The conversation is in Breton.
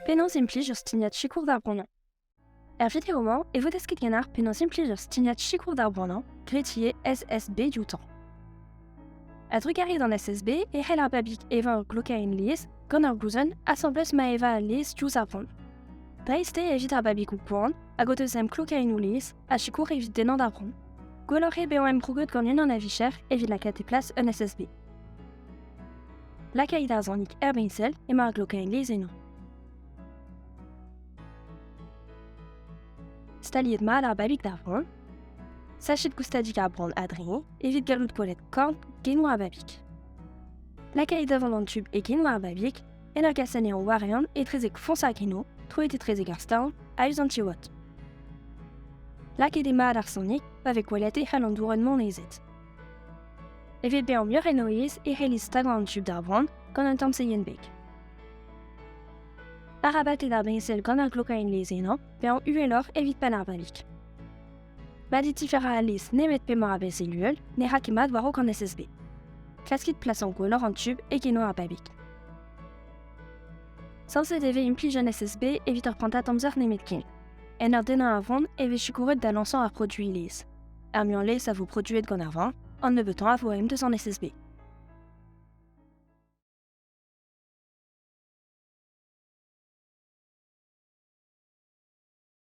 Penaos implij ur stignad sikour d'ar bremañ Hervit e romañ e vo desket ganeoc'h penaos implij ur stignad sikour d'ar bremañ graet ivez SSB dioutañ. A-drugarez d'an SSB e c'hell ar babig evañ ur glokaenn lies gant ur glouzenn asambles ma eva al lies diouzh ar vont. Dreist eo evit ar babigoù gwan hag o deus emglokaennoù lies A sikour evit dennañ da vro. Gwelloc'h eo bezañ emprouget gant unan a vicher evit lakaat e plas un SSB. Lakait ar zonik er bensel emañ ar glokain lez eno. Staliet mat ar babig d'ar vran. Sachet goustadik ar bran adreniñ evit gallout kollet korn genou ar babig. Lakait davant an tub e genou ar babig en ur gas anezhañ war-eeun etrezek foñs ar greno, troet etrezek ar stall, a-us an tiwod. Lakaet eo mat ar sonik pa vez gwelet e c'hell an dourenn monezet. Evit bezañ muioc'h en o aes e c'hellit stagañ an tub d'ar vran gant un tamm seienbeg. Arabat eo ar briñsel gant ur glokaenn lezennañ, bezañ uheloc'h evit penn ar balik. Baditi Ferralis nemet p'emañ a Veseluel ne ra ket mat war-raok an SSB. Klaskit plasan gwelloc'h an tub e genoù ar babig. Sañset e vez implij an SSB evit ur prantad amzer nemetken. En ur dennañ ar vont e vez sikouret da lañsañ ar produiñ laezh. Ar muiañ laezh a vo produet gant ar vent, an nebeutañ a vo aem deus an SSB.